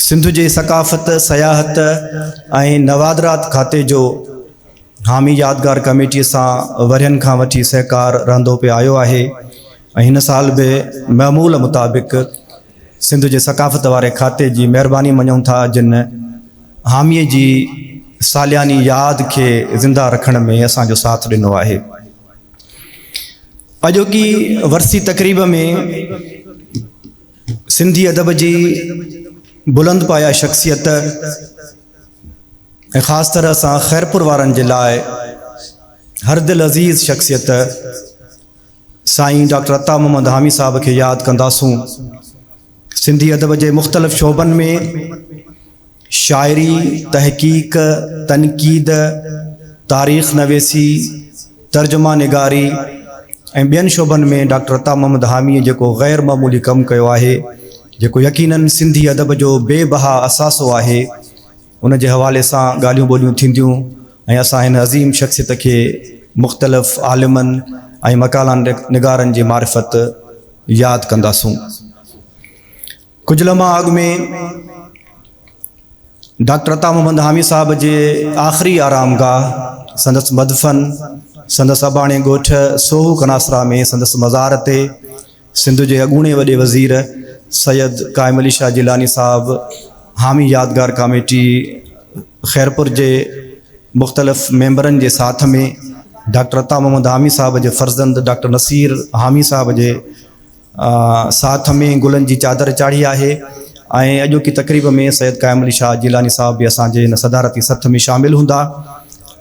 سنڌ جي ثقافت، سياحت ۽ نوادرات کاتي جو حامي يادگار ڪميٽي سان ورهين کان وٺي سهڪار رهندو پئي آيو آهي ۽ هن سال به معمول مطابق سنڌ جي ثقافت واري کاتي جي مهرباني مڃون ٿا جن حامي جي سالياني ياد کي زنده رکڻ ۾ اسان جو ساٿ ڏنو آهي. اڄوڪي ورسي تقريب ۾ سنڌي ادب جي بلند پايه شخصيت ۽ خاص طرح سان خيرپور وارن جي لاء هر دل عزيز شخصيت سائين ڊاڪٽر عطا محمد حامي صاحب کي ياد ڪنداسون سنڌي ادب جي مختلف شعبن ۾ شاعري، تحقيق، تنقيد، تاريخ نويسي، ترجمه نگاري ۽ ٻين شعبن ۾ ڊاڪٽر عطا محمد حاميء جيڪو غير معمولي ڪم ڪيو آهي، جيڪو يقيناً سنڌي ادب جو بي بها اثاثو آهي، ان جي حوالي سان ڳالهيون ٻولهيون ٿينديون ۽ اسان هن عظيم شخصيت کي مختلف عالمن ۽ مقالا نگارن جي معرفت ياد ڪنداسون. ڪجهه لمحا اڳ ۾ ڊاڪٽر عطا محمد حامي صاحب جي آخري آرام گاهه سندس مدفن سندس اباڻي ڳوٺ سوهو ڪناسرا ۾ سندس مزار تي سنڌ جي اڳوڻي وڏي وزير سيد قائم علي شاهه جيلاني صاحب حامي يادگار ڪاميٽي خيرپور جي مختلف ميمبرن جي ساٿ ۾ ڊاڪٽر عطا محمد حامي صاحب جي فرزند ڊاڪٽر نصير حامي صاحب جي ساٿ ۾ گلن جي چادر چاڙهي آهي ۽ اڄوڪي تقريب ۾ سيد قائم علي شاهه جيلاني صاحب به اسان جي هن صدارتي سٿ ۾ شامل هوندا.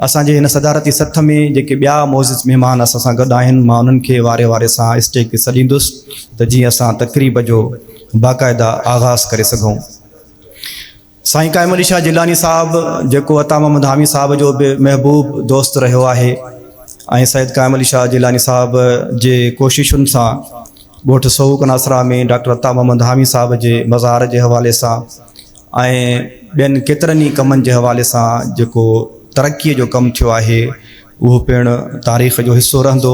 اسان جي هن صدارتي سٿ ۾ جيڪي ٻيا معزز مهمان اسان سان گڏ آهن مان انهن کي واري واري سان اسٽيج تي سڏيندس ته جيئن اسان تقريب جو باقاعده آغاز ڪري سگهون. سائين قائم علي شاهه جيلاني صاحب جيڪو عطا محمد حامي صاحب جو به محبوب دوست رهيو آهي ۽ سيد قائم علي شاهه جيلاني صاحب جي ڪوششن سان ڳوٺ سهوڪ ناصرا ۾ ڊاڪٽر عطا محمد حامي صاحب جي مزار جي حوالي سان ۽ ٻين ڪيترن ئي ڪمن جي حوالي سان جيڪو ترقي جو ڪم ٿيو آهي اهو پڻ تاريخ جو حصو رهندو.